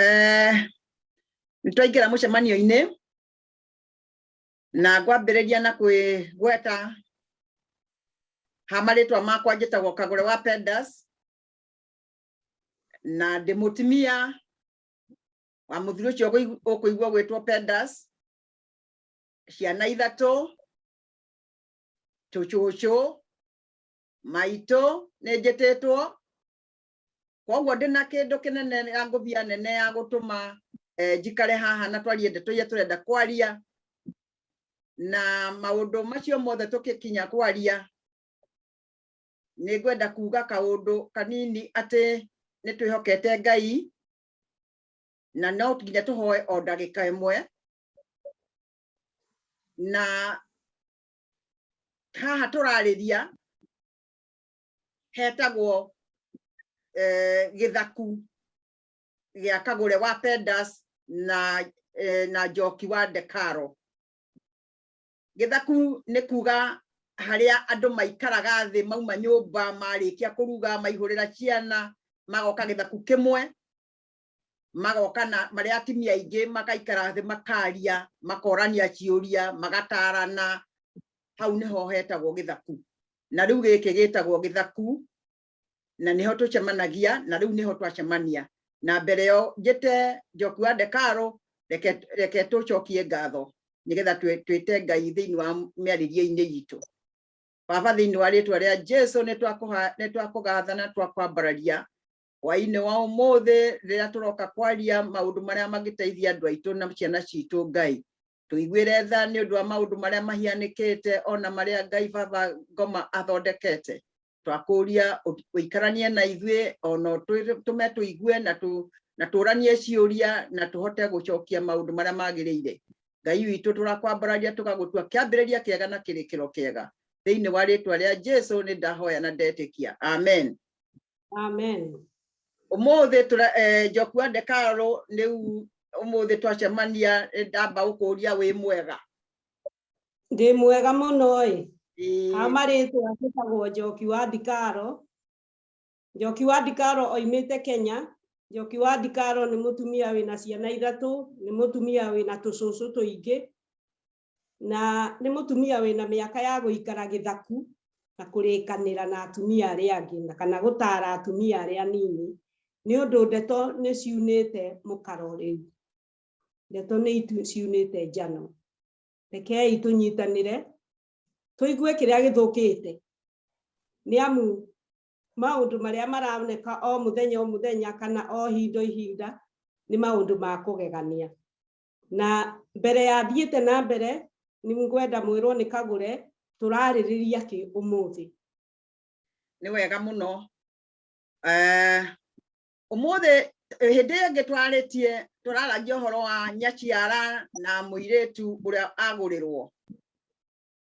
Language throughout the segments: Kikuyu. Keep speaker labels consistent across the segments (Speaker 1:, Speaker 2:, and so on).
Speaker 1: Eh, nĩ twaingĩra mũcemanio-inĩ na ngwambĩrĩria na kwĩgweta ha marĩtwa makwa njĩtagwo kagũre wa pendas na ndĩ mũtumia wa mũthuri ũcio ũkũigua gwĩtwo pendas ciana ithatũ tũcũcũ maitũ nĩ njĩtĩtwo koguo ndĩ na kĩndũ kĩnene ya ngũbia nene ya gũtũma eh, njikare haha na twarie ndeto iria tũrenda kwaria na maũndũ macio mothe tũkĩkinya kwaria nĩ ngwenda kuga kaũndũ kanini atĩ nĩ twĩhokete ngai na no nginya tũhoe o ndagĩka ĩmwe na haha tũrarĩria hetagwo eh, gĩthaku gĩa kagũre wa pendas na eh, na njoki wa ndekaro gĩthaku nĩ kuga harĩa andũ maikaraga thĩ mauma nyũmba marĩkia kũruga maihũrĩra ciana magoka gĩthaku kĩmwe magoka na marĩa atumia aingĩ makaikara thĩ makaria makorania ciũria magatarana hau nĩho hetagwo gĩthaku na rĩu gĩkĩ gĩtagwo gĩthaku na nĩho tũcemanagia na rĩu nĩho twacemania na mbere yo njĩte njoku wa ndekaro reke reke tũcokie ngatho nĩgetha twĩte ngai thĩinĩ wa mĩarĩrie-inĩ itũ baba thĩinĩ wa rĩtwa rĩa jesu nĩ twakũgatha na twakwambararia hwainĩ wa ũmũthĩ rĩrĩa tũroka kwaria maũndũ marĩa mangĩteithia andũ aitũ na ciana citũ ngai tũiguĩre tha nĩ ũndũ wa maũndũ marĩa mahianĩkĩte ona marĩa ngai baba ngoma athondekete twakũria ũikaranie na ithuĩ ona tũme tũigue na tũ na tũranie ciũria na tũhote gũcokia maũndũ marĩa magĩrĩire ngai witũ tũrakwambararia tũgagũtua kĩambĩrĩria kĩega na kĩrĩkĩro kĩega thĩinĩ wa rĩtwa rĩa jesu nĩ ndahoya na ndetĩkia amen Amen.
Speaker 2: Umuthi
Speaker 1: tura eh, Jokua Ndekaro riu umuthi twacemania ndamba gukuria wi mwega.
Speaker 2: Ndi mwega muno i. Amaritwa njĩtagwo Njoki wa Ndikaro. Njoki wa Ndikaro oimĩte Kenya. Njoki wa Ndikaro nĩ mũtumia wĩna ciana ithatũ, nĩ mũtumia wĩna tũcũcũ tũingĩ. na nĩ mũtumia wĩna mĩaka ya gũikara gĩthaku na kũrĩkanĩra na atumia arĩa angĩ na kana gũtara atumia arĩa anini nĩ ũndũ ndeto nĩ ciunĩte mũkaro rĩu ndeto nĩ ciunĩte njano rekei tũnyitanĩre tũigue kĩrĩa gĩthũkĩte nĩ amu maũndũ marĩa maroneka o mũthenya o mũthenya kana o hinda ihinda nĩ maũndũ ma kũgegania na mbere ya thiĩte na mbere nĩ ngwenda mwĩrwo nĩ kagũre tũrarĩrĩria kĩ ũmũthĩ
Speaker 1: nĩ wega mũno Eh, ũmũthĩ eh, hĩndĩ ĩyo ĩngĩ twarĩtie tũraragia ũhoro wa nyaciara na mũirĩtu ũrĩa agũrĩrwo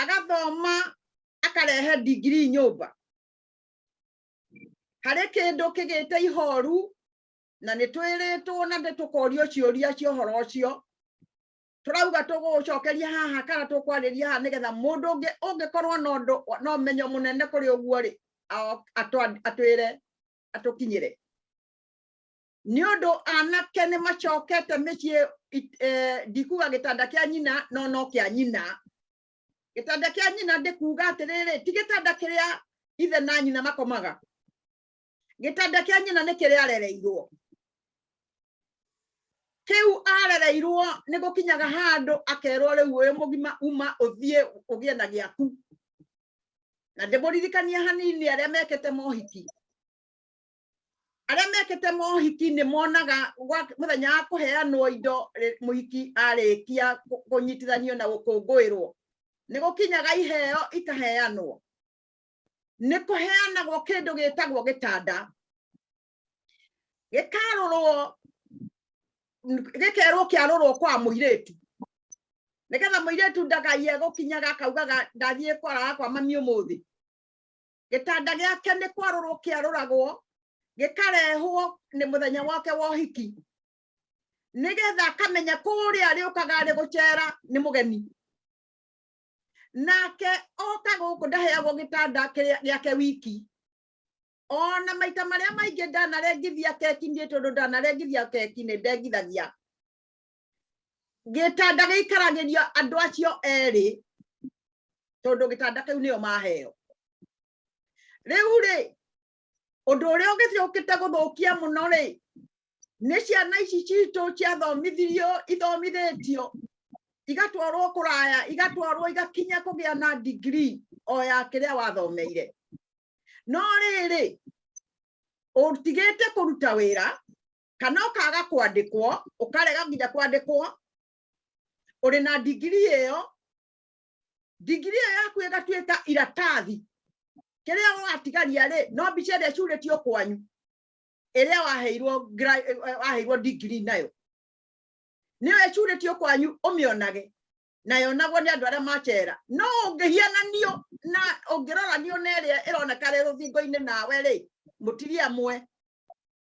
Speaker 1: agathoma akarehe ndigiri nyũmba harĩ kĩndũ kĩgĩte ihoru na nĩ twĩrĩtwo na nĩ tũkorio ciũria cia ũhoro ũcio tũrauga tũgũcokeria haha kana tũkwarĩria haha nĩgetha mũndũ ũngĩ ũngĩkorwo na ũndũ na ũmenyo mũnene kũrĩ ũguo rĩ atwĩre atũkinyĩre nĩ ũndũ anake nĩ macokete mĩciĩ eh, ndikuga gĩtanda kĩa nyina no no kĩa nyina gĩtanda kĩa nyina ndĩkuga atĩrĩrĩ ti gĩtanda kĩrĩa ithe na nyina makomaga gĩtanda kĩa nyina nĩ kĩrĩa arereirwo kĩu arereirwo nĩ gũkinyaga handũ akerwo rĩu ũyũ mũgima uma ũthiĩ ũgĩe na gĩaku na ndĩmũririkania hanini arĩa mekĩte mohiki arĩa mekĩte mohiki nĩ monaga gwa- mũthenya wa kũheanwo indo rĩ- mũhiki arĩkia kũ- kũnyitithanio na gũkũngũĩrwo nĩ gũkinyaga iheo ikaheanwo nĩ kũheanagwo kĩndũ gĩtagwo gĩtanda gĩkarũrwo n- gĩkerwo kĩarũrwo kwa mũirĩtu nĩgetha mũirĩtu ndagaie gũkinyaga akaugaga ndathiĩ kwara kwa mami ũmũthĩ gĩtanda gĩake nĩ kwarũrwo kĩarũragwo gĩkarehwo nĩ mũthenya wake wa ũhiki nĩgetha akamenya kũrĩa arĩũkaga arĩ gũcera nĩ mũgeni nake oka gũkũ ndaheagwo gĩtanda gĩake wiki ona maita marĩa maingĩ ndanarengithia keki niĩ tondũ ndanarengithia keki nĩ ndengithagia gĩtanda gĩikaragĩrio andũ acio erĩ tondũ gĩtanda kĩu nĩo maheo rĩu rĩ ũndũ ũrĩa ũgĩcokĩte gũthũkia mũno rĩ nĩ ciana ici citũ ciathomithirio ithomithĩtio igatwarwo kũraya igatwarwo igakinya kũgĩa na ndigiri o ya kĩrĩa wathomeire no rĩrĩ ũtigĩte kũruta wĩra kana ũkaga kwandĩkwo ũkarega nginya kwandĩkwo ũrĩ na ndigiri ĩyo ndigiri ĩyo yaku ĩgatuĩka iratathi kĩrĩa watigaria rĩ no mbica ĩrĩa ciurĩtio kwanyu ĩrĩa waheirwo waheirwo ndigiri nayo nĩyo ĩcurĩtio kwanyu ũmĩonage na yonagwo nĩ andũ arĩa macera no ũngĩhiananio na ũngĩroranio na ĩrĩa ĩroneka rĩ rũthingo-inĩ nawe rĩ mũtiria mwe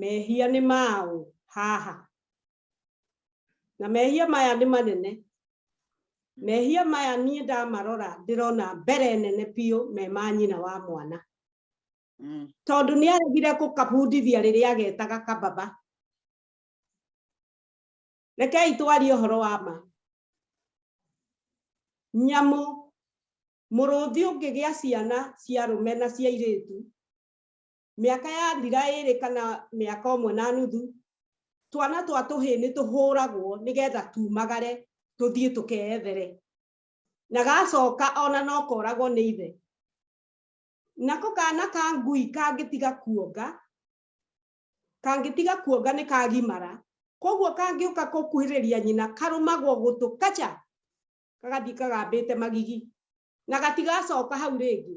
Speaker 2: mehia nĩ maũ haha na mehia maya nĩ manene mehia maya niĩ ndamarora ndĩrona mbere nene biũ me ma nyina wa mwana mm. tondũ nĩ aregire gũkabundithia rĩrĩa agetaga kababa rekei twarie ũhoro wa ma nyamũ mũrũthi ũngĩgĩa ciana cia rũme na cia irĩtu mĩaka ya thira ĩrĩ kana mĩaka ũmwe na nuthu twana twa tũhĩ nĩ tũhũragwo nĩgetha tumagare tũthiĩ tũkeethere na gacoka ona no koragwo nĩ ithe nako kana ka ngui kangĩtiga kuonga kangĩtiga kuonga nĩ kagimara koguo kangĩũka kũkuhĩrĩria nyina karũmagwo gũtũ kacha kagathiĩ kagambĩte magigi na gatigacoka hau rĩngĩ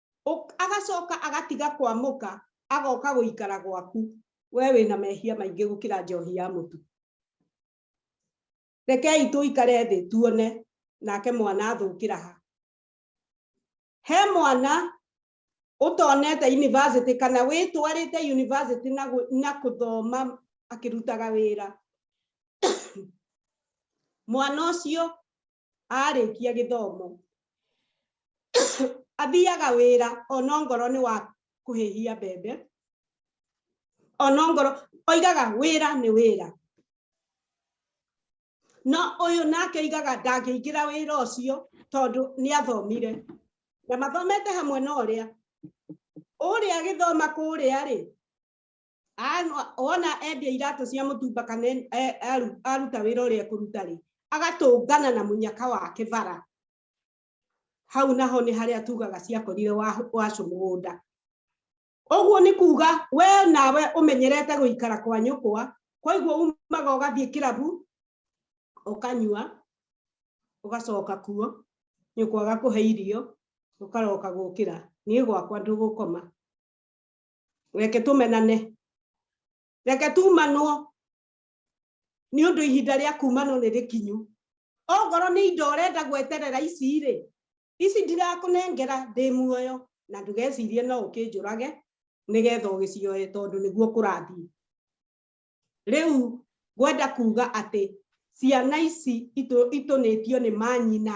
Speaker 2: Ũk- agacoka agatiga kwamũka agoka gũikara gwaku we wĩna mehia maingĩ gũkĩra njohi ya mũtu rekei tũikare thĩ tuone nake mwana athũkĩra ha he mwana ũtonete university kana wĩtwarĩte university na, gũ- na kũthoma akĩrutaga wĩra mwana ũcio arĩkia gĩthomo athiaga wĩra ona ngoro nĩ wa kũhĩhia mbembe ona ngoro oigaga wĩra nĩ wĩra no ũyũ nake oigaga ndangĩingĩra wĩra ũcio tondũ nĩ athomire na mathomete hamwe na ũrĩa ũrĩa agĩthoma kũrĩa rĩ Anu- wona endia iratũ cia mũtumba kana en- e- aru- aruta wĩra ũrĩa ekũruta rĩ agatũngana na mũnyaka wake bara hau naho nĩ harĩa tugaga ciakorire wa- wacu mũgũnda ũguo nĩ kuga we nawe ũmenyerete gũikara kwa nyũkwa koiguo umaga ũgathiĩ kĩrabu ũkanyua ũgacoka kuo nyũkwa agakũhe irio ũkaroka gũkĩra niĩ gwakwa ndũgũkoma reke tũmenane reke tumanwo nĩ ũndũ ihinda rĩa kumanwo nĩ rĩkinyu ongorwo nĩ indo ũrenda gweterera ici rĩ ici ndirakũnengera ndĩ muoyo na ndũgecirie no ũkĩnjũrage nĩgetha ũgĩcioe tondũ nĩguo kũrathiĩ rĩu ngwenda kuga atĩ ciana ici itũnĩtio nĩ manyina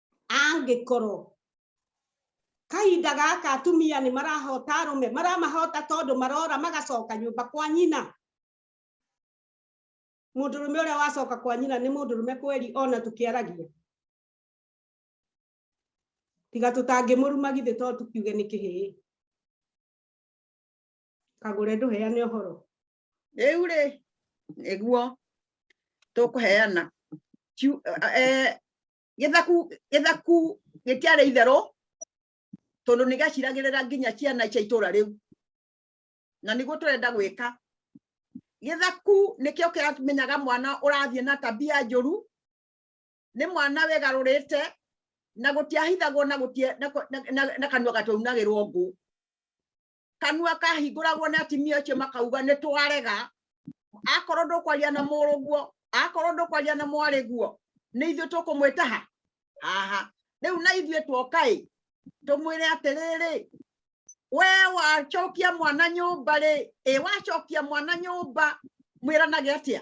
Speaker 2: angĩkorwo kahinda gaka atumia nĩ marahota arũme maramahota tondũ marora magacoka nyũmba kwa nyina mũndũrũme ũrĩa wacoka kwa nyina nĩ mũndũrũme kweri ona tũkĩaragia tiga tũtangĩmũruma githĩ to tũkiuge nĩ kĩhĩĩ kagũre ndũheane ũhoro rĩu rĩ
Speaker 1: nĩguo tũkũheana eh, gĩthaku gĩthaku gĩtiarĩ itherũ tondũ nĩ gaciragĩrĩra nginya ciana cia itũra rĩu na nĩguo tũrenda gwĩka gĩthaku nĩkĩo kĩramenyaga mwana ũrathiĩ na tabia njũru nĩ mwana wĩgarũrĩte na gũtiahithagwo na kanua gataunagĩrwo ngũ kanua kahingũragwo nĩ atimia acio makauga nĩ twarega akorwo ndũkwaria na mũrũ guo akorwo ndũkwaria na mwarĩ guo nĩ ithuĩ tũkũmwĩta ha haha rĩu na ithuĩ tuoka ĩ tũmwĩre atĩrĩrĩ we wacokia mwana nyũmba rĩ ĩ wacokia mwana nyũmba mwĩranage atĩa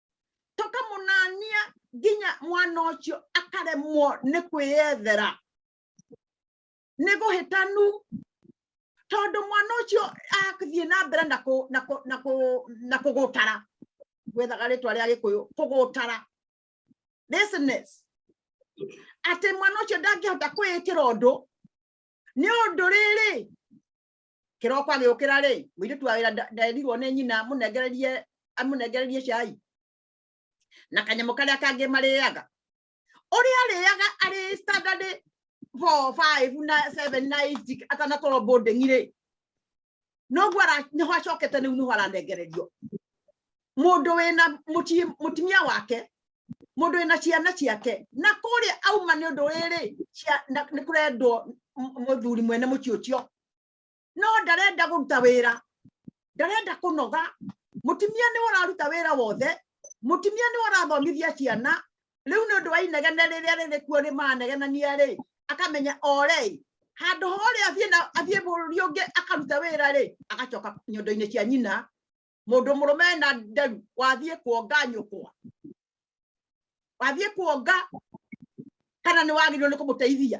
Speaker 1: tũkamũnania nginya mwana ũcio akaremwo nĩ kwĩyethera nĩ gũhĩtanu tondũ mwana ũcio athiĩ na mbere na kũgũtara gwethaga rĩtwa rĩa gĩkũyũ kũgũtara business atĩ mwana ũcio ndangĩhota kwĩĩkĩra ũndũ nĩ ũndũ rĩrĩ kiroko agiukira ri muiritu wa wira nderirwo ni nyina munengererie amunengererie cai na kanyamo karia kangi mariaga uria ariaga ari standard 4 5 na 7 na 8 atanakorwo boarding ri noguo niho acokete riu niho aranengererio mundu wina mutimia wake mundu wina ciana ciake na kuria auma ni undu riri ni kurendwo muthuri mwene muci ucio no ndarenda kũruta wĩra ndarenda kũnoga mũtumia nĩ ũraruta wĩra wothe mũtumia nĩ ũrathomithia ciana rĩu nĩ ũndũ wa inegene rĩrĩa rĩrĩ kuo rĩ manegenania rĩ akamenya orei handũ horĩa athiĩ na athiĩ bũrũri ũngĩ akaruta wĩra rĩ agacoka nyondo-inĩ cia nyina mũndũ mũrũme na nderu wathiĩ kuonga nyũkwa wathiĩ kuonga kana nĩ wagĩrĩirwo nĩ kũmũteithia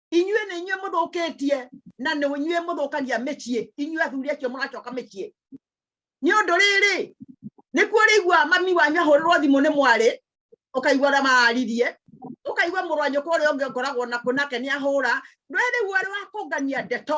Speaker 1: inyuĩ nĩ inyuĩ mũthũkĩtie na nĩ inyuĩ mũthũkagia mĩciĩ inyuĩ athuri acio mũracoka mĩciĩ nĩ ũndũ rĩrĩ nĩkuo rĩigua mami wanyu ahũrĩrwo thimũ nĩ mwarĩ ũkaigua ũrĩa mararirie ũkaigua mũrũ wa nyũkwa ũrĩa ũngĩ ngoragwo nakuo nake nĩ ahũra rĩu ũrĩ wa kũngania ndeto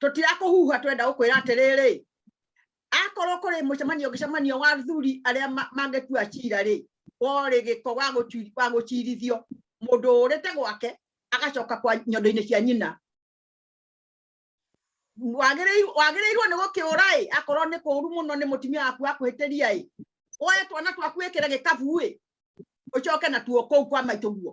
Speaker 1: tũtirakũhuha twenda gũkwĩra atĩrĩrĩ akorwo kũrĩ mũcemanio gĩcemanio wa athuri arĩa mangĩtua cira rĩ worĩ gĩko wa gũcirithio mũndũ ũrĩte gwake agacoka kwa nyondo-inĩ cia nyina wagĩrĩirwo nĩ gũkĩũra ĩ akorwo nĩ kũũru mũno nĩ mũtumia waku akũhĩtĩria ĩ woe twana twaku ĩkĩre gĩkabu ĩ ũcoke natuo kũu kwa maitũ guo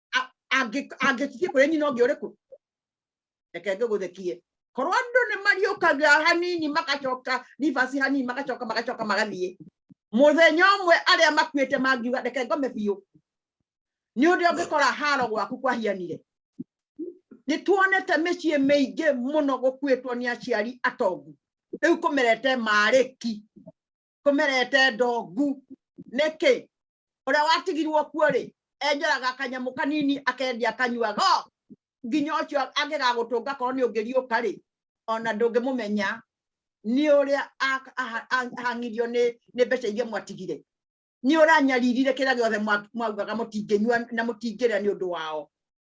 Speaker 1: angĩthiĩ kũrĩ nyina ũngĩ ũrĩkũ reke ngĩgũthekie korwo andũ nĩ mariũkaga hanini magacoka ribasi hanini magacoka magacoka magathiĩ mũthenya ũmwe arĩa makuĩte mangiuga reke ngome biũ nĩ ũndũ ũngĩkora haro gwaku kwahianire nĩ tuonete mĩciĩ mĩingĩ mũno gũkuĩtwo nĩ aciari atongu rĩu kũmerete marĩki kumerete ndongu niki uria watigirwo kuo ri enjoraga kanyamu kanini akendia akanyuaga nginya ucio angigagutunga korwo ni ungiriuka ri ona ndungimumenya ni uria ahangirio ni ni mbeca iria mwatigire ni uranyaririre kira giothe mwaugaga mutinginyua na mutingiria ni undu wao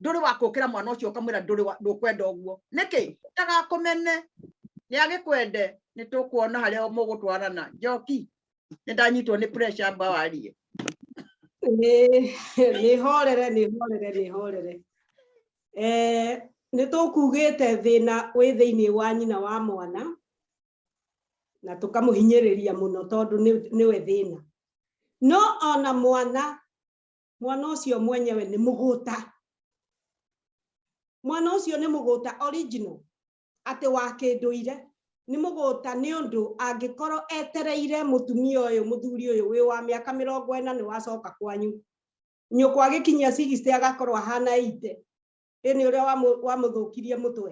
Speaker 1: nduri wa kukira mwana ucio ukamwira nduri wa ndukwenda uguo niki utagakumene ni agikwende ni tukuona haria mugutwarana njoki ni ndanyitwo ni pressure amba warie Nĩ-
Speaker 2: nĩhorere nĩhorere nĩhorere Eh, nĩ tũkugĩte thĩna wĩ thĩinĩ wa nyina wa mwana na tũkamũhinyĩrĩria mũno tondũ nĩ- nĩwe thĩna no ona mwana mwana ũcio mwenyewe nĩ mũgũta mwana ũcio nĩ mũgũta original atĩ wa kĩndũire nĩ mũgũta nĩ ũndũ angĩkorwo etereire mũtumia ũyũ mũthuri ũyũ wĩ wa mĩaka mĩrongo ĩna nĩ wacoka kwanyu nyũkwa gĩkinyia cigicite agakorwo ahana ite ĩnĩ ũrĩa wamũthũkirie mũtwe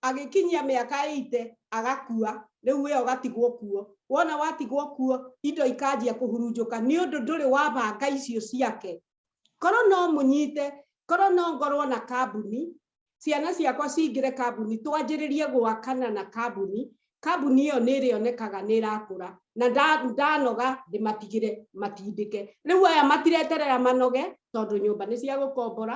Speaker 2: agĩkinyia mĩaka ĩite agakua rĩu wĩyo gatigwo kuo wona watigwo kuo indo ikanjia kũhurunjũka nĩ ũndũ ndũrĩ wabanga icio ciake korwo no mũnyite korwo no ngorwo na kambuni ciana ciakwa cingĩre kambuni twanjĩrĩrie gwakana na kambuni kambuni ĩyo nĩ ĩrĩonekaga nĩ ĩrakũra na ndanoga ndĩmatigĩre matindĩke rĩu aya matireterera manoge tondũ nyũmba nĩ cia gũkombora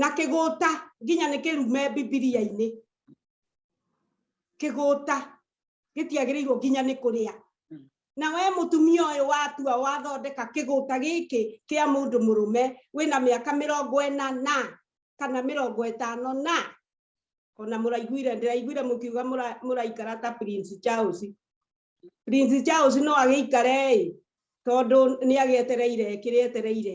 Speaker 2: na kĩgũta nginya nĩ kĩrume bibilia-inĩ kĩgũta gĩtiagĩrĩirwo nginya nĩ kũrĩa hmm. na we mũtumia ũyũ watua wathondeka kĩgũta gĩkĩ kĩa mũndũ mũrũme wĩna mĩaka mĩrongo ĩna na kana mĩrongo ĩtano na ona mũraiguire ndĩraiguire mũkiuga mũraikara ta prince charles prince charles no agĩikare ĩ tondũ nĩ agĩetereire kĩrĩa etereire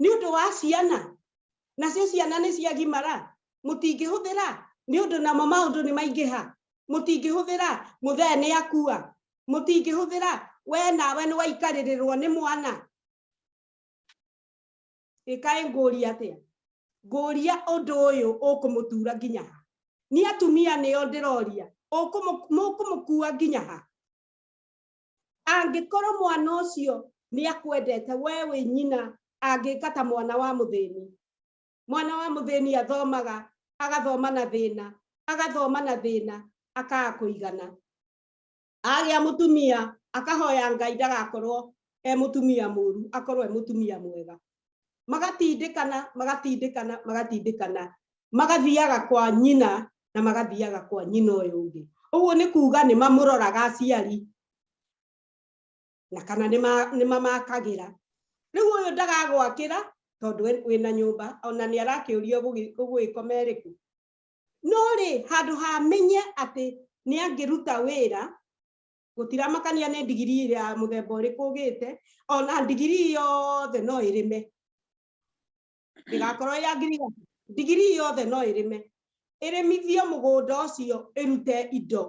Speaker 2: nĩ ũndũ wa ciana nacio ciana nĩ ciagimara mũtingĩhũthĩra nĩ ũndũ namo maũndũ nĩ maingĩha mũtingĩhũthĩra mũthee nĩ akua mũtingĩhũthĩra we nawe nĩ waikarĩrĩrwo nĩ mwana ĩkaĩ ngũria atĩa ngũria ũndũ ũyũ ũkũmũtura nginya ha nĩ atumia nĩo ndĩroria mũkũmũkua nginya ha angĩkorwo mwana ũcio nĩ akwendete we wĩ nyina angĩka ta mwana wa mũthĩni mwana wa mũthĩni athomaga agathoma na thĩna agathoma na thĩna akaga kũigana agĩa mũtumia akahoya ngai ndagakorwo e mũtumia mũru akorwo e mũtumia mwega magatindĩkana magatindĩkana magatindĩkana magathiaga kwa nyina na magathiaga kwa nyina ũyũ ũngĩ ũguo nĩ kuga nĩ mamũroraga aciari na kana nĩ mamakagĩra rĩu ũyũ ndagagwakĩra tondũ wĩna nyũmba ona nĩ arakĩũrio gũgĩkoma ĩrĩkũ no rĩ handũ hamenye atĩ nĩ angĩruta wĩra gũtiramakania nĩ ndigiri ya mũthemba ũrĩkũ ũgĩte ona ndigiri yothe no ĩrĩme ndĩgakorwo ya ngiriga ndigiri yothe no ĩrĩme ĩrĩmithie mũgũnda ũcio ĩrute indo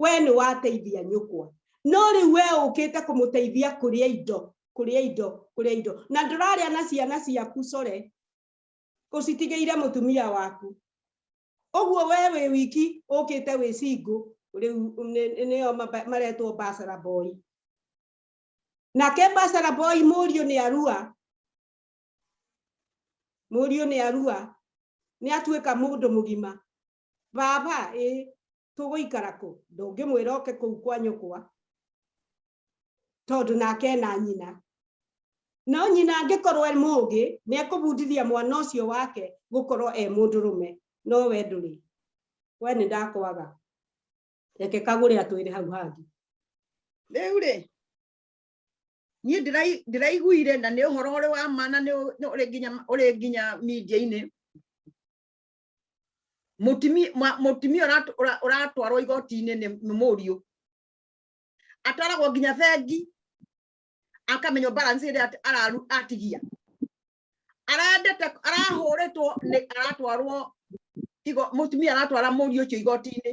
Speaker 2: we nĩ wateithia nyũkwa no rĩu we ũkĩte kũmũteithia kũrĩa indo kũrĩa indo kũrĩa indo na ndũrarĩa na ciana ciaku core ũcitigĩire mũtumia waku ũguo we wĩ wiki ũkĩte wĩ cingũ rĩu nĩo maretwo basara boy nake basara boy mũriũ nĩ arua mũriũ nĩ arua nĩ atuĩka mũndũ mũgima baba ĩ tũgũikara kũ ndũngĩmwĩra oke kũu kwa nyũkwa tondå nake na nyina no nyina angĩkorwo e mũgĩ nĩ ekũbundithia mwana ũcio wake gũkorwo e mũndũrũme no we ndũrĩ we nĩ ndakwaga reke kagũre atwĩre hau hangĩ rĩu
Speaker 1: rĩ niĩ ndĩraiguire na nĩ ũhoro ũrĩ wa ma na ũrĩ nginya media-inĩ mũtumia ũratwarwo igoti-inĩ nĩ mũriũ atwaragwo nginya bengi akamenywo balance ĩrĩa araru atigia arendete arahũrĩtwo nĩ aratwarwo igo mũtumia aratwara mũriũ ũcio igoti-inĩ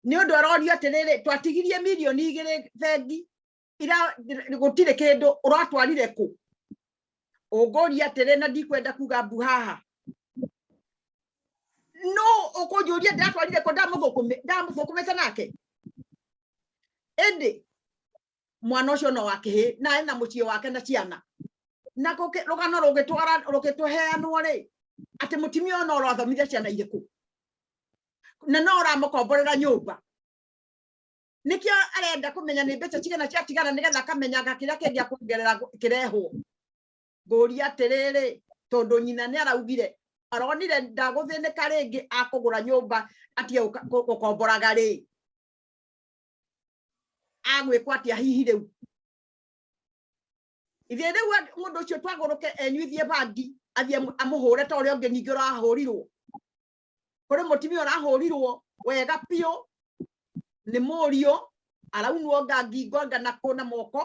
Speaker 1: nĩ ũndũ arorio atĩrĩrĩ twatigirie mirioni igĩrĩ bengi ira gũtirĩ kĩndũ ũratwarire kũ ũngũria atĩrĩ na ndikwenda kuga mbu haha no ũkũnjũria ndatwarire kũ ndamũthũkũmĩte nake ĩndĩ mwana ũcio no wakĩhĩ na arĩ na mũciĩ wake na ciana na rũgano rũgĩtwara rũgĩtũheanwo rĩ atĩ mũtumia ũyũ no ũrathomithia ciana irĩkũ na no ũramũkomborera nyũmba nikio arenda kumenya ni mbeca cigana ciatigara nigetha akamenyaga kiria kingi akuongerera kirehwo nguria atiriri tondu nyina ni araugire aronire ndaguthinika ringi akugura nyumba atie gukomboraga ri agwikwa atia hihi riu ithe riu mundu ucio twaguruke enyuithie bangi athie amuhure ta uria ungi ningi urahurirwo kuri mutimia ũrahũrirwo wega biũ nĩ mũriũ araunwo nga ngingo nga na kũna moko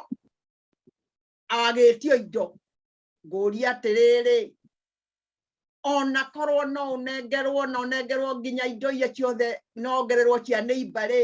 Speaker 1: agĩtio indo ngũria atĩrĩrĩ ona korwo no ũnengerwo na ũnengerwo nginya indo iria ciothe nongererwo cia nĩimba rĩ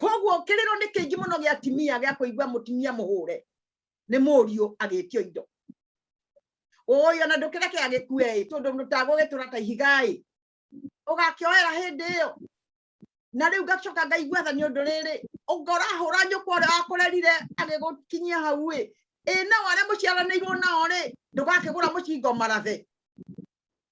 Speaker 1: koguo kĩrĩro nĩ kĩingĩ mũno gĩa atimia gĩa kũigua mũtimia mũhũre nĩ mũriũ agĩtio indo ũyũ ona ndũkĩreke agĩkue ĩ tondũ ndũtagũgĩtũra ta ihiga ĩ ũgakĩoera hĩndĩ ĩyo na rĩu ngacoka ngaigua tha nĩ ũndũ rĩrĩ ũngorahũra nyũkwa ũrĩa wakũrerire agĩgũkinyia hau ĩ ĩ nao arĩa mũciaranĩirwo nao rĩ ndũgakĩgũra mũcingo marathe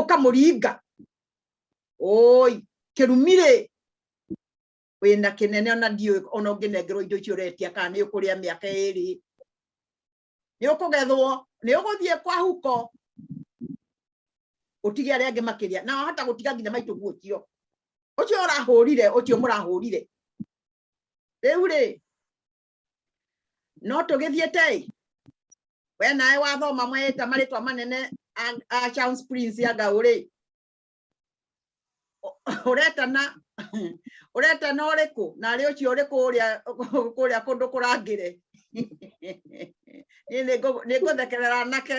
Speaker 1: ũkamũringa oi kĩrumire wĩna kĩnene ona ndiũĩ ona ũngĩnengerwo indo icio ũretia kana nĩ ũkũrĩa mĩaka ĩrĩ nĩ ũkũgethwo nĩ ũgũthiĩ kwa huko utige arĩa angĩ makĩria na wahota gũtiga nginya maitũ guocio ũcio ũrahũrire ũcio mũrahũrire rĩu rĩ no tũgĩthiĩte ĩ we nawe wathoma mweta marĩtwa manene a- a Charles Prince ya ngaũ rĩ ũ- ũretana ũretana ũrĩkũ na arĩ ũcio ũrĩkũ ũrĩa kũrĩa kũndũ kũrangĩre Niĩ nĩngũ- nĩngũthekerera anake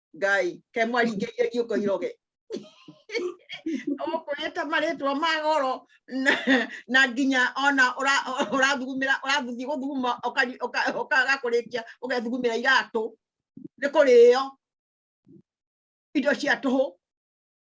Speaker 1: ngai ke mwaringĩrie ngiũko iroge ũkwĩta marĩtwa ma goro na nginya ona ũrathugumĩra ũrathuthi gũthuguma ũkagakũrĩkia ũgethugumĩra iratũ nĩ kũrĩo indo cia tũhũ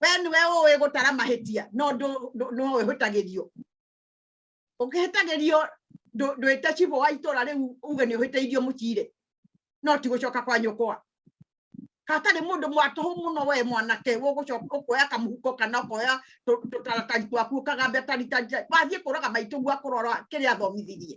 Speaker 1: we niwe ũĩ gũtara mahĩtia no no ũhĩtagĩrio ũngĩhĩtagĩrio ndwĩte cibũ wa itũra rĩu uge nĩ ũhĩtĩirio mũcirĩ no ti gũcoka kwa nyũkwa hatarĩ mũndũ mwatũhũ mũno we mwanake ũkoya kamũhuko kana ũkoya tũtaratari twaku ũkagambia taritari wathiĩ kũraga maitũ gwa kũrora kĩrĩa athomithirie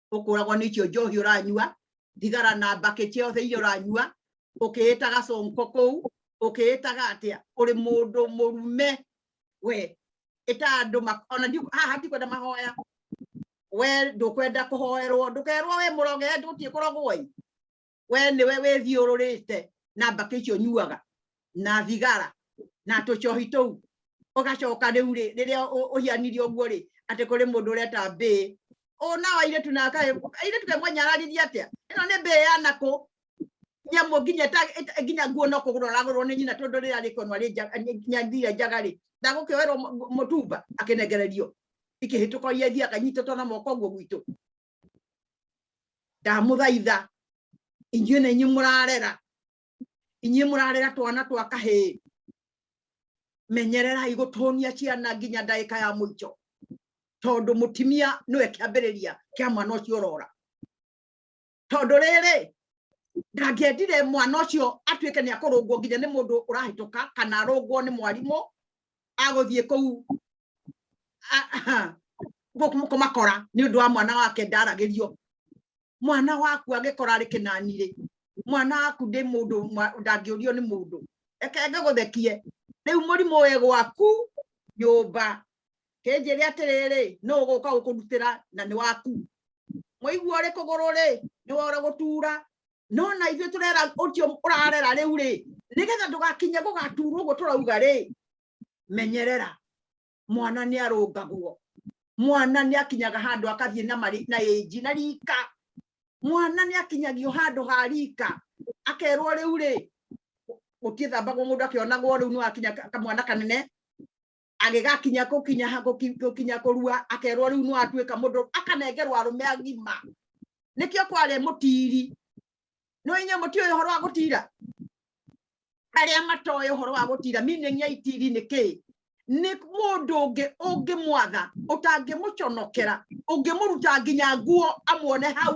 Speaker 1: ukuragwo ni cio njohi uranyua thigara na mbake ciothe iria uranyua ukiitaga sonko kuu ukiitaga atia uri mundu murume we ita andu ona haha ndikwenda mahoya we ndukwenda kuhoerwo ndukerwo we muroge ndutie kurogwo i we niwe withiururite na mbakĩ icio nyuaga na thigara na tũcohi tũu ũgacoka rĩu rĩ rĩrĩa ũhianirie ũguo rĩ atĩ kũrĩ mũndũ ũreta mbĩ ũna wa airĩtu na airĩtu kaĩ mwanyararirie atĩa ĩno nĩ mbĩ ya nakũ nyamũ nginya nginya nguo no kũgũra ũragũrwo nĩ nyina tondũ rĩrĩa rĩkonwa rĩ nyathire njaga rĩ ndagũkĩoerwo mũtumba akĩnengererio ikĩhĩtũka iria ithiaga nyitĩtwo na moko ũguo gwitũ ndamũthaitha inyuĩ nĩ inyuĩ mũrarera inyuĩ mũrarera twana twa kahĩĩ menyererai gũtũnia ciana nginya ndagĩka ya mũico tondũ mũtimia nĩwe kĩambĩrĩria kĩa mwana ũcio ũrora tondũ rĩrĩ ndangĩendire mwana ũcio atuĩke nĩ akũrũngwo nginya nĩ mũndũ ũrahĩtũka kana arũngwo nĩ mwarimũ agũthiĩ kũu kũmakora nĩ ũndũ wa mwana wake ndaragĩrio mwana waku agĩkora arĩ kĩnani rĩ mwana waku ndĩ mũndũ ndangĩũrio nĩ mũndũ reke ngĩgũthekie rĩu mũrimũ ũyũ gwaku nyũmba kĩnjĩrĩ atĩrĩrĩ no ũgũka gũkũrutĩra na nĩ waku mũigua ũrĩ kũgũrũ rĩ nĩ wora gũtura no na ithuĩ tũrera ũcio ũrarera rĩu rĩ nĩgetha ndũgakinye gũgaturwo ũguo tũrauga rĩ menyerera mwana nĩ arũngagwo mwana nĩ akinyaga handũ akathiĩ na marĩ na ĩnji na rika mwana nĩ akinyagio handũ ha rika akerwo rĩu rĩ gũtiĩthambagwo mũndũ akĩonagwo rĩu nĩ wakinya kamwana kanene agĩgakinya gũkinya gũkinya kũrua akerwo rĩu no atuĩka mũndũ akanengerwo arũme agima nĩkĩo kwarĩ mũtiri nĩ inye mũti ũyũ ũhoro wa gũtira arĩa matoĩ ũhoro wa gũtira meaning ya itiri nĩ kĩ nĩ mũndũ ũngĩ ũngĩmwatha ũtangĩmũconokera ũngĩmũruta nginya nguo amuone hau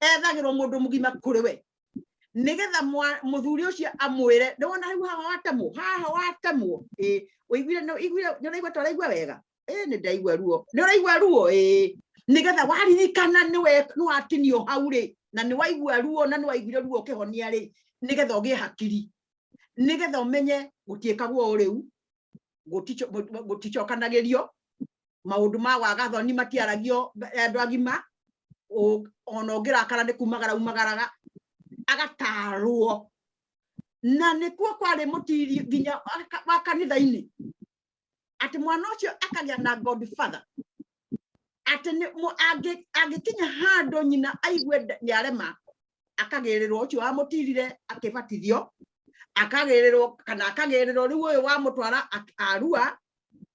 Speaker 1: ethagirwo mundu mugima kuri we nigetha muthuri ucio amwire ni wona riu haha watemwo haha watemwo eh uiguire ni uiguire ni uraigua ta uraigua wega eh ni ndaigua ruo ni uraigua ruo eh nigetha waririkana ni we ni watinio hau ri na ni waigua ruo na ni waiguire ruo ukihonia ri nigetha ugie hakiri nigetha umenye gutiikagwo riu gutichokanagirio maundu ma waga thoni matiaragio andu agima ona ungirakara ni kumagara umagaraga agatarwo na nikuo kwari mutiri nginya wa kanitha-ini ati mwana ucio akagia na god father ati angikinya handu nyina aigue niarema akagirirwo ucio wamutirire akibatithio akagirirwo kana akagirirwo riu uyu wamutwara arua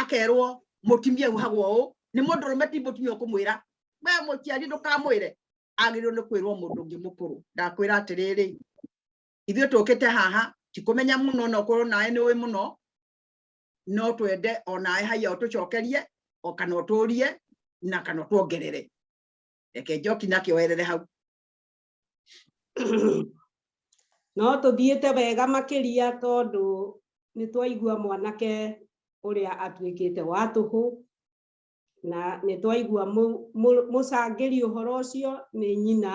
Speaker 1: akerwo mutimia uhagwo u ni mundu rume ti mutimia ukumwira we muciari ndukamwire agirwo ni kwirwo mundu ngi mukuru ndakwira atiriri ithuĩ tũkĩte haha tikumenya muno no korwo nawe nĩ ũĩ muno no twende o nawe haiya ũtũcokerie o kana ũtũrie na kana ũtuongerere reke njoki nakĩo werere hau
Speaker 2: no tũthiĩte wega makĩria tondũ nĩ twaigua mwanake ũrĩa atuĩkĩte wa tũhũ na nĩ twaigua mũcangĩri ũhoro ũcio nĩ nyina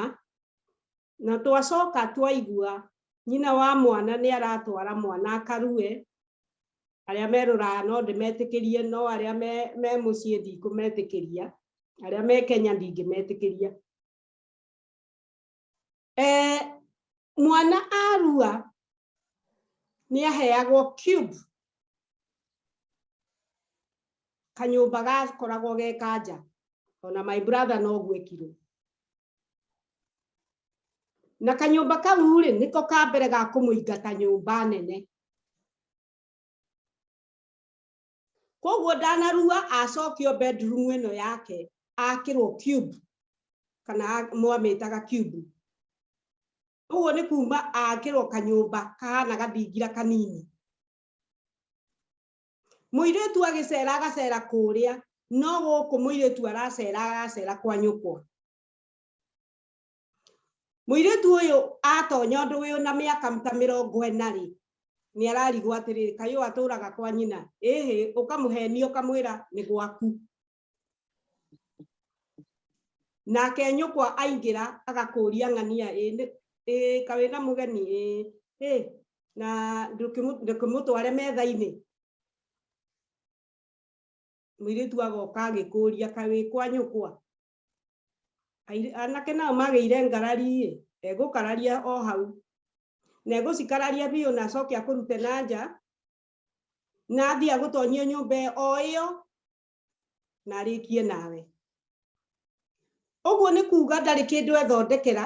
Speaker 2: na twacoka twaigua nyina wa mwana nĩ aratwara mwana akarue arĩa merũraga no ndĩmetĩkĩrie no arĩa me mũciĩ ndikũmetĩkĩria arĩa me Kenya ndingĩmetĩkĩria eh, mwana arua nä aheagwo cube kanyũmba gakoragwo ge kanja ona my brother no gwekirwo na kanyũmba kau rĩ nĩko ka mbere ga kũmũingata nyũmba nene koguo ndanarua acokio bedroom ĩno yake akĩrwo cube kana mwamĩtaga cube koguo nĩ kuma akĩrwo kanyũmba kahana gathingira kanini mũirĩtu agĩcera agacera kũrĩa no gũkũ mũirĩtu aracera aracera kwa nyũkwa Mũirĩtu ũyũ atonya ũndũ ũyũ na mĩaka ta mĩrongo ĩna rĩ, nĩ ararigwo atĩrĩrĩ, kaĩ ũyũ atũraga kwa nyina? Ĩhĩ, ũkamũhenia ũkamwĩra nĩ gwaku. Nake nyũkwa aingĩra agakũria ng'ania, ĩ kawĩ na mũgeni ĩ, na ndũkĩmũtware metha-inĩ. Mũirĩtu agoka agĩkũria kawĩ kwa nyũkwa, anake nao magĩire ngarari egũkararia o hau na egũcikararia biũ na acoke akũrute na nja na athiĩ agũtonyie nyũmba o ĩyo na arĩkie nawe ũguo nĩ kuga ndarĩ kĩndũ ethondekera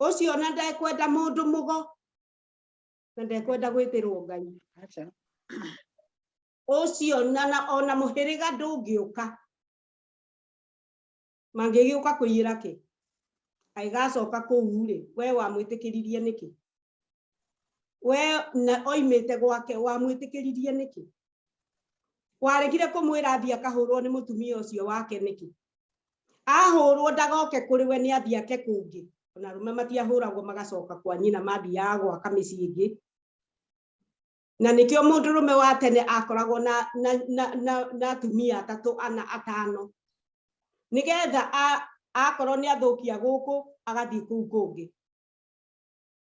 Speaker 2: ucio na ndekwenda mundu mugo na ndekwenda gwitirwo ngai ucio na ona muhiriga ndungiuka mangigiuka kuyira ki aigacoka kuu ri we wamwitikiririe niki we na oimite gwake wamwitikiririe niki waregire kumwira thia kahurwo ni mutumia ucio wake niki ahũrwo ndagoke kũrĩ we nĩ athiĩ ake kũngĩ ona arũme matiahũragwo magacoka kwa nyina mathiaga gwaka mĩciĩ ĩngĩ na nĩkĩo mũndũ rũme wa tene akoragwo na, na, na, na, na atumia atatũ ana atano nĩgetha akorwo nĩ athũkia gũkũ agathiĩ kũu kũngĩ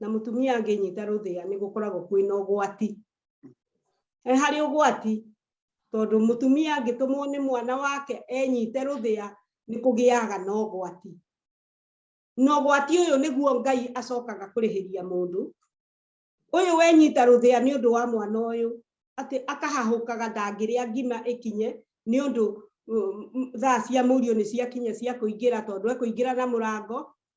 Speaker 2: na mutumia anginyita ruthia ni gukoragwo kwina ugwati e hari ugwati tondu mutumia angitumwo ni mwana wake enyite ruthia ni kugiaga na ugwati na ugwati uyu niguo ngai acokaga kurihiria mundu uyu wenyita ruthia ni undu wa mwana uyu ati akahahukaga ndangiria ngima ikinye ni undu thaa cia murio ni ciakinya cia kuingira tondu ekuingira na murango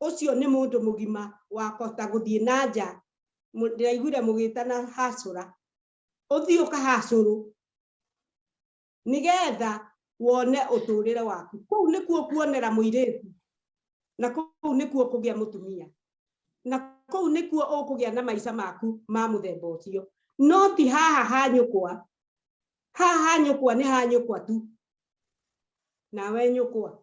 Speaker 2: ucio ni mundu mugima wa kota guthie na nja ndiraiguire mugitana hacura uthie ukahacuru nigetha wone uturire waku kuu nikuo kuonera muiritu na kuu nikuo kugia mutumia na kuu nikuo ukugia na maica maku ma muthemba ucio no ti haha ha nyukwa haha ha nyukwa ni ha nyukwa tu nawe nyukwa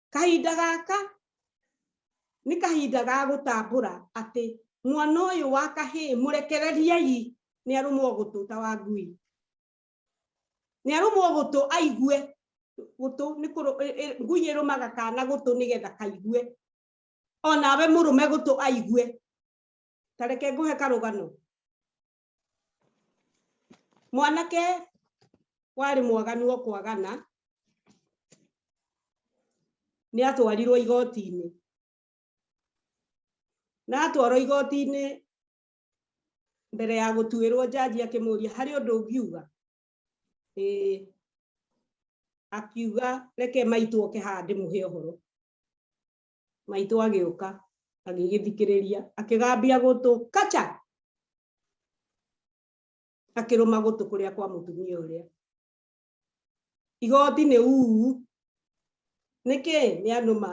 Speaker 2: kahinda gaka nĩ kahinda ga gũtambũra atĩ mwana ũyũ wa kahĩĩ mũrekereriei nĩ arũmwo gũtũ ta wa ngui nĩ arũmwo gũtũ aigue gũtũ nĩ e, e, ngui ĩrũmaga kana gũtũ nĩgetha kaigue onawe mũrũme gũtũ aigue tareke ngũhe karũgano mwanake warĩ mwaganu o kwagana nĩ atwarirwo igoti-inĩ na atwarwo igoti-inĩ mbere ya gũtuĩrwo njanji akĩmũria harĩ ũndũ ũngiuga akiuga reke maitũ oke haha ndĩmũhe ũhoro maitũ agĩũka agĩgĩthikĩrĩria akĩgambia gũtũ kacha akĩrũma gũtũ kũrĩa kwa mũtumia ũrĩa igoti nĩ uu nĩkĩ nĩ anũma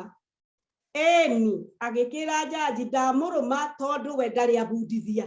Speaker 2: eni agĩkĩra njanji ndamũrũma tondũ we ndarĩ abundithia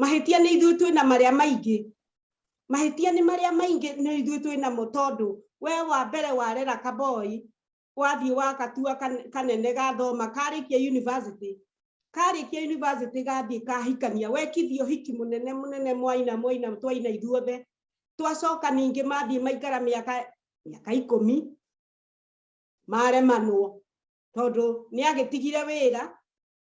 Speaker 2: mahĩtia nĩ ithuĩ twĩ na marĩa maingĩ mahĩtia nĩ marĩa maingĩ nĩ ithuĩ twĩ namo tondũ we wa mbere warera kaboi wathiĩ wakatua kanene gathoma karĩkia university karĩkia university gathiĩ kahikania wekithio hiki mũnene mũnene mwaina mwaina twaina ithuothe twacoka ningĩ mathiĩ maikara mĩaka mĩaka ikũmi maremanwo tondũ nĩ agĩtigire wĩra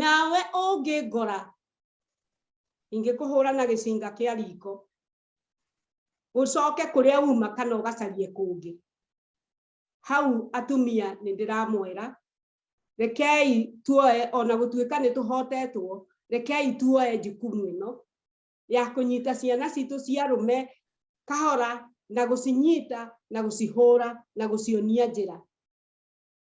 Speaker 2: nawe ũngĩngora ingĩkũhũra na gĩcinga kĩa riko ũcoke kũrĩa uma kana ũgacarie kũngĩ hau atumia nĩ ndĩramwĩra rekei tuoe ona gũtuĩka nĩ tũhotetwo rekei tuoe jukumu ĩno ya kũnyita ciana citũ cia rũme kahora na gũcinyita na gũcihũra na gũcionia njĩra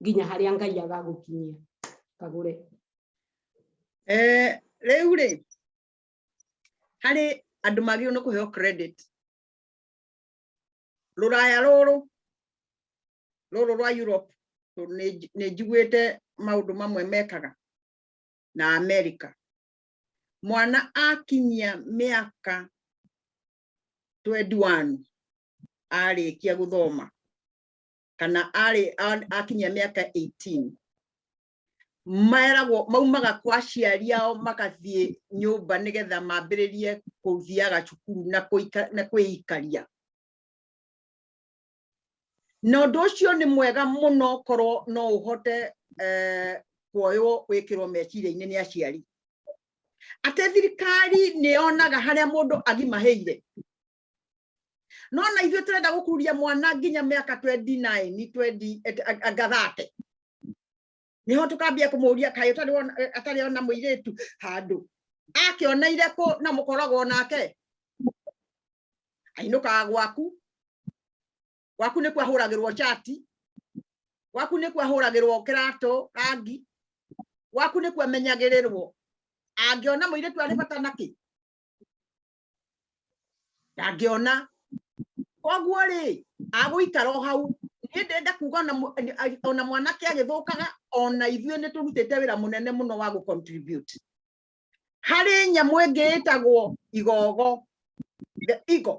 Speaker 2: nginya harĩa ngai agagũkinyia kagũre eh,
Speaker 1: rĩu rĩ harĩ andũ magĩrĩirwo nĩ kũheo credit rũraya rũrũ rũrũ rwa Europe nĩ njiguĩte maũndũ mamwe mekaga na America mwana akinyia mĩaka 21 arĩkia gũthoma kana arĩ akinyia mĩaka 18 meragwo maumaga kwa aciari ao magathiĩ nyũmba nĩgetha mambĩrĩrie kũthiaga cukuru na kwĩikaria na ũndũ ũcio nĩ mwega mũno korwo no ũhote eh, kuoywo wĩkĩrwo meciria-inĩ nĩ aciari atĩ thirikari nĩ yonaga harĩa mũndũ agimahĩire no na ithuĩ tũrenda gũkururia mwana nginya mĩaka 29 20 anga 30 niho tukambia kumuria kai utari wona atari ona muiritu handu akiona ire ku na mukoragwo nake ainuka gwaku gwaku ni kwahuragirwo chati gwaku ni kwahuragirwo kirato rangi gwaku ni kwamenyagirirwo angiona muiritu ari bata naki ndangĩona koguo rĩ agũikara o hau niĩ ndenda kuga ona mwanake agĩthũkaga ona ithuĩ nĩ tũrutĩte wĩra mũnene mũno wa gũcontribute harĩ nyamũ ĩngĩ ĩtagwo igogo the eagle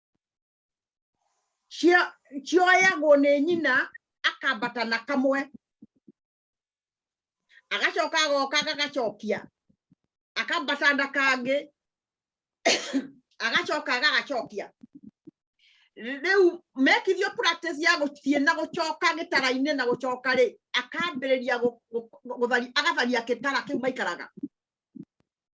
Speaker 1: cioyagwo nĩ nyina akambata na kamwe agacoka agoka gagacokia akambata na kangĩ agacoka agagacokia rĩu mekithio practice ya gũthiĩ na gũcoka gĩtara-inĩ na gũcoka rĩ akambĩrĩria gũtharia agatharia gĩtara kĩu maikaraga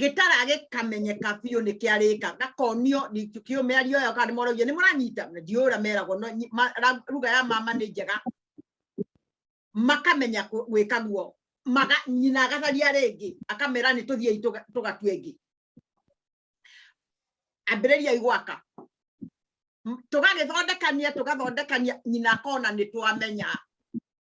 Speaker 1: gitara gikamenyeka biũ nĩ kĩarĩka gakonio ndingĩkĩũ mĩario ĩyo kana nĩmoragio nĩ mũranyita ndiũra meragwo no nyi- ma- ra- ruga ya mama nĩ njega makamenya kũ- gwĩka guo maga nyina agatharia rĩngĩ akamera nĩ tũthiei tũga- tũgatue ĩngĩ ambĩrĩriai gwaka M- tũgagĩthondekania tũgathondekania nyina akona nĩ twamenya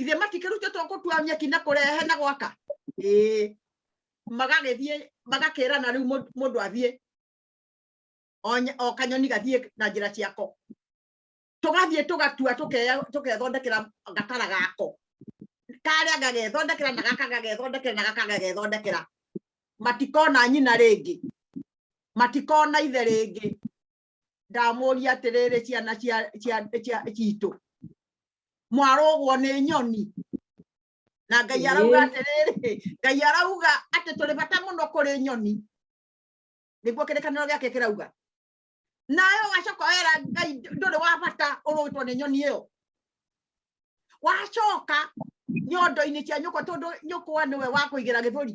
Speaker 1: ithe matikĩrutĩtwo gũtua nyeki na kũrehe na gwaka ĩĩ magagĩthiĩ magakĩrana rĩu mũndũ athiĩ o kanyoni gathiĩ na njĩra ciako tũgathiĩ tũgatua tũkethondekera gatara gako karĩa gagethondekera na gaka gagethondekera na gaka gagethondekera matikona nyina rĩngĩ matikona ithe rĩngĩ ndamuria atiriri ciana cia cia cia citu mwarugwo ni nyoni na ngai arauga atiriri ngai arauga ati turi bata muno kuri nyoni niguo kirikaniro giake kirauga nayo wacoka wera ngai nduri wa bata urugitwo ni nyoni iyo wacoka nyondo-inĩ cia nyũkwa tondũ nyũkwa nĩwe wa kũigĩra gĩthũri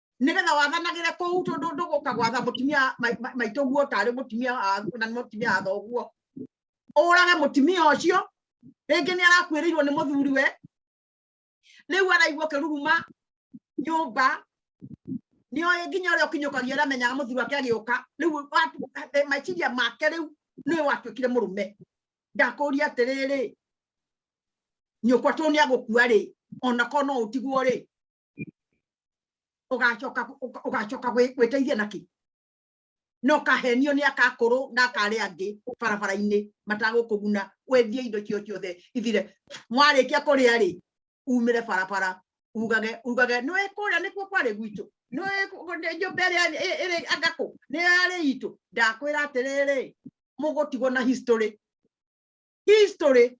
Speaker 1: nigetha wathanagire kuu tondu nduguka gwatha mutimia maitu guo tari mutimia na mutimia a thoguo urage mutimia ucio ringi ni arakuirirwo ni muthuri we riu araigua kiruruma nyumba ni oye nginya uria ukinyukagia uria menyaga muthuri wake agiuka riu eh, maiciria make riu niwe watuikire murume ndakuria atiriri nyukwa tu ni agukua ri ona ko no utigwo ri ugacoka ugacoka gwiteithia naki no kahenio ni akakuru ndakari angi barabara-ini matagukuguna wendie indo cio ciothe ithire mwarikia kuria ri umire barabara ugage ugage no ikuria nikuo kwari gwitu no nyumba iria iri angaku ni yari itu ndakwira atiriri mugutigwo na history history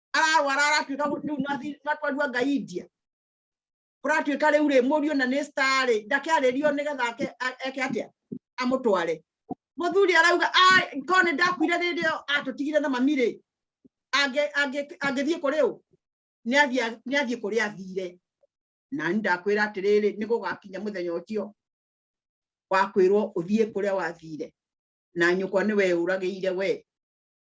Speaker 1: arawa aratuĩka rĩu natwarua ngai india kũratuĩka rĩu rĩ mũriũ na nĩ star rĩ ndakĩarĩrio nĩgetha eke atĩa amũtware mũthuri arauga korwo nĩ ndakuire rĩrĩ atũtigire na mami rĩ angĩthiĩ kũrĩ ũ nĩ athiĩ kũrĩa athire na nĩ ndakwĩra atĩrĩrĩ nĩ gũgakinya mũthenya ũcio wakwĩrwo ũthiĩ kũrĩa wathire na nyũkwa nĩ weũragĩire wee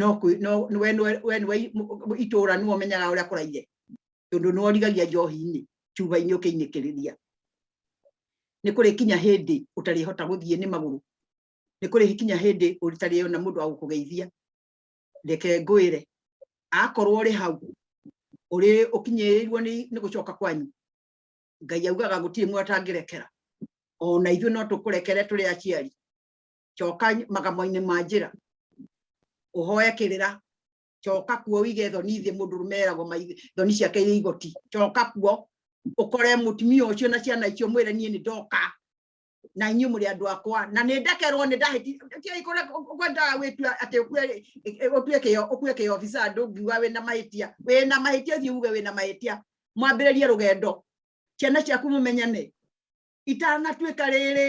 Speaker 1: no kwi- no nĩ we nĩ we nĩ we i- m- m- itũũra nĩ ũmenyaga ũrĩa kũraire tondũ nĩ worigagia njohi-inĩ cuba-inĩ ũkĩinĩkĩrĩria nĩ kũrĩ kinya hĩndĩ ũtarĩhota gũthiĩ nĩ magũrũ nĩ kũrĩ kinya hĩndĩ ũtarĩona mũndũ wa gũkũgeithia reke ngwĩre akorwo ũrĩ hau ũrĩ ũkinyĩrĩirwo nĩ nĩ gũcoka kwanyu ngai augaga gũtirĩ mũndũ atangĩrekera ona ithuĩ no tũkũrekere tũrĩ aciari coka magamo-inĩ ma njĩra ũhoe kĩrĩra coka kuo wige thoni thĩ mũndũ rũme eragwo thoni ciake irĩ igoti coka kuo ũkore mũtumia ũcio na ciana icio mwĩre niĩ nĩ ndoka na inyuĩ mũrĩ andũ akwa na nĩ ndekerwo nĩ ndahĩtia ikore ũkwendaga wĩtua atĩ ũtue kĩo ũkue kĩo obisa ndũngiuga wĩna mahĩtia wĩna mahĩtia thiĩ uge wĩna mahĩtia mwambĩrĩrie rũgendo ciana ciaku mũmenyane itanatuĩka rĩrĩ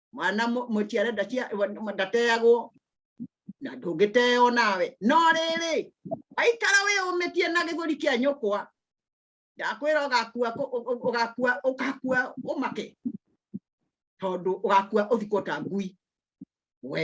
Speaker 1: mwana mũciare ndateagwo na ndũngĩteo nawe no rĩrĩ aikara wĩyũmĩtie na gĩthũri kĩa nyũkwa ndakwĩra ũgakua ũgakua ũgakua ũmake tondũ ũgakua ũthikwo ta ngui we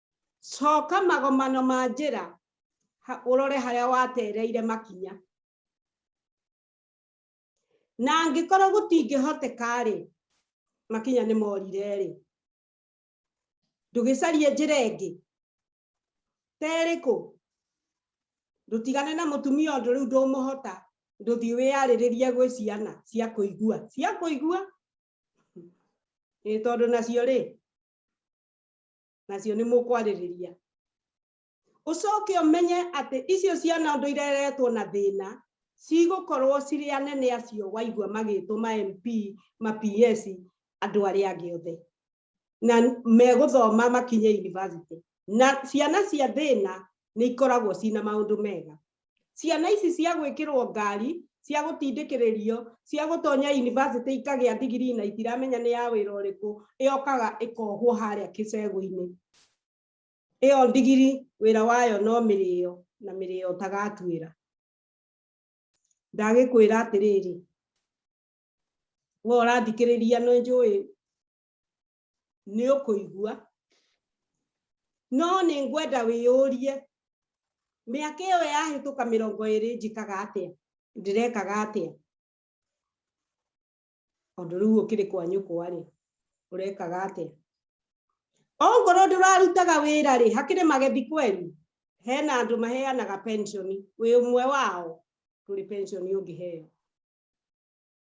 Speaker 2: coka magomano ma njĩra ũrore harĩa watereire makinya na angĩkorwo gũtingĩhoteka-rĩ makinya nĩ morire-rĩ ndũgĩcarie njĩra ĩngĩ terĩkũ ndũtigane na mũtumia ũndũ rĩu ndũmũhota ndũthiĩ wĩyarĩrĩrie gwĩ ciana cia kũigua cia kũigua ĩ tondũ nacio rĩ nacio nĩ mũkwarĩrĩria ũcoke ũmenye atĩ icio ciana ũndũ ireretwo na thĩna cigũkorwo cirĩ anene acio waigua magĩtwo ma MP ma PS andũ arĩa angĩ othe na megũthoma makinye university na ciana cia thĩna nĩ ikoragwo cina maũndũ mega ciana ici cia gwĩkĩrwo ngari cia gũtindĩkĩrĩrio cia gũtonya yunivasĩtĩ ikagĩa ndigiri na itiramenya nĩ ya wĩra ũrĩkũ ĩokaga ĩkohwo harĩa kĩcegũ-inĩ ĩyo ndigiri wĩra wayo no mĩrĩo na mĩrĩo ũtagatuĩra ndagĩkwĩra atĩrĩrĩ we ũrathikĩrĩria nĩ njũĩ nĩ ũkũigua no nĩ ngwenda wĩyũrie mĩaka ĩyo yahĩtũka mĩrongo ĩrĩ njĩkaga atĩa ndĩrekaga atĩa tondũ rĩu ũkĩrĩ kwa nyũkwa rĩ ũrekaga atĩa ongorwo ndũrarutaga wĩra rĩ hakĩrĩ magethi kweli hena andũ maheanaga pensioni wĩ ũmwe wao tũrĩ pensioni ũngĩheo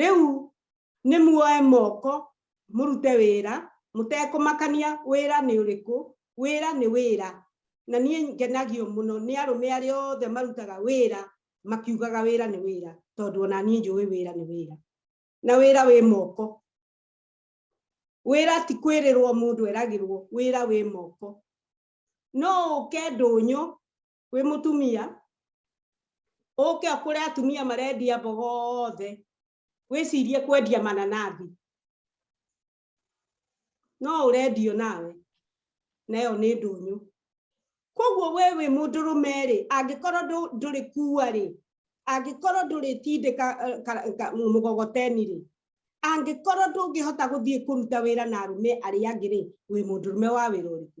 Speaker 2: rĩu nĩ muoe moko mũrute wĩra mũtekũmakania wĩra nĩ ũrĩkũ wĩra nĩ wĩra na niĩ ngenagio mũno nĩ arũme arĩa othe marutaga wĩra makiugaga wĩra nĩ wĩra tondũ ona niĩ njũĩ wĩra nĩ wĩra na wĩra wĩ moko wĩra ti kwĩrĩrwo mũndũ eragĩrwo wĩra wĩ moko no ũke ndũnyũ wĩ mũtumia ũke ũkũre atumia marendia mboga othe wĩcirie kwendia mananathi no ũrendio nawe nayo nĩ ndũnyũ koguo we wĩ mũndũrũme rĩ angĩkorwo ndũrĩ kuua rĩ angĩkorwo ndũrĩ tindĩka eh, mũgogoteni rĩ angĩkorwo ndũngĩhota gũthiĩ kũruta wĩra na arũme arĩa angĩ rĩ wĩ mũndũrũme wa wĩra ũrĩkũ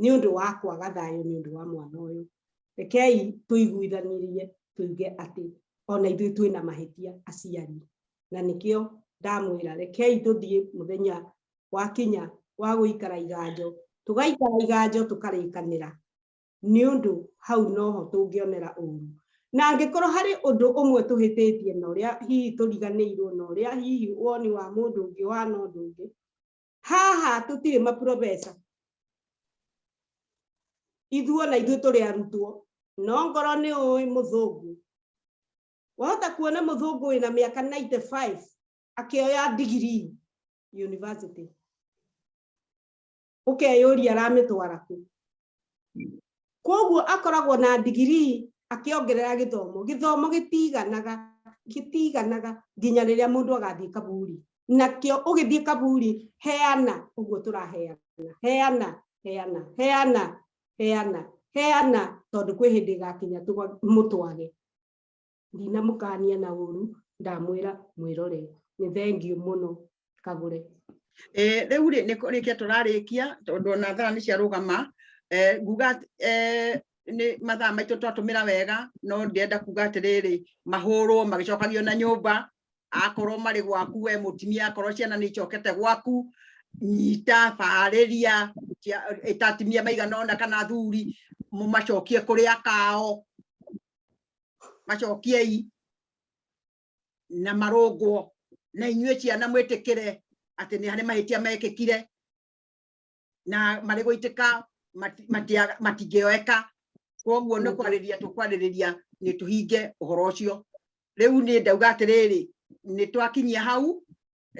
Speaker 2: nĩ ũndũ wa kwaga thayũ nĩ ũndũ wa mwana ũyũ rekei tũiguithanirie tuge atĩ ona ithuĩ twĩ na mahĩtia aciari na nĩkĩo ndamwĩra rekei tũthiĩ mũthenya wakinya wa gũikara iganjo tũgaikara iganjo tũkarĩkanĩra nĩ ũndũ hau noho tũngĩonera ũru na angĩkorwo harĩ ũndũ ũmwe tũhĩtĩtie na ũrĩa hihi tũriganĩirwo na ũrĩa hihi woni wa mũndũ ũngĩ wana ũndũ ũngĩ haha tũtirĩ maprofesa ithuo na ithuĩ tũrĩ arutwo no ngoro nĩ ũĩ mũthũngũ wahota kuona mũthũngũ wĩna mĩaka 95 akĩoya ndigiri university ũkeyũria aramĩtwara kũ koguo akoragwo na ndigirii akĩongerera gĩthomo gĩthomo gĩtiganaga gĩtiganaga nginya rĩrĩa mũndũ agathiĩ kaburi nakĩo ũgĩthiĩ kaburi heana ũguo tũraheana heana heana heana heana heana tondũ kwĩ hĩndĩ ĩgakinya mũtwage ndinamũkania na ũru ndamwĩra mwĩrore nĩ thengiũ mũno kagũre eh, rĩu
Speaker 1: rĩ nĩ kũrĩkia tũrarĩkia tondũ ona thara nĩ ciarũgama eh, nguga eh, nĩ mathaa maitũ twatũmĩra wega no ndĩenda kuga atĩrĩrĩ mahũrwo magĩcokagio na nyũmba akorwo marĩ gwaku we mũtumia akorwo ciana nĩ icokete gwaku nyita barĩria ĩtatimia maigana ona kana thuri mũmacokie kũrĩa kao macokiei na marũngwo na inyuĩ ciana mwĩtĩkĩre atĩ nĩ harĩ mahĩtia mekĩkire na marĩ gũitĩka matingĩoeka koguo nĩ kwarĩria tũkwarĩrĩria nĩ tũhinge ũhoro ũcio rĩu nĩ ndauga atĩrĩrĩ nĩ twakinyia hau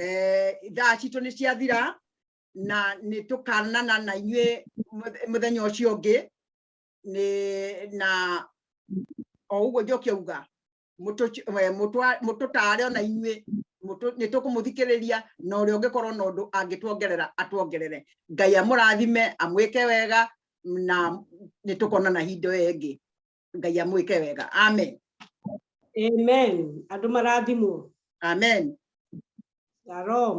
Speaker 1: eh, thaa citũ nĩ ciathira na nĩ tũkanana na inyuĩ mũthenya ũcio ũngĩ nĩ na o ũguo njoki auga mũtũtare ona inyuĩ nĩ tũkũmũthikĩrĩria na ũrĩa ũngĩkorwo na ũndũ angĩtuongerera atuongerere ngai amũrathime amwĩke wega na nĩ tũkonana hinda ĩyo ĩngĩ ngai amwĩke wega amen
Speaker 2: amen andũ marathimwo amen shalom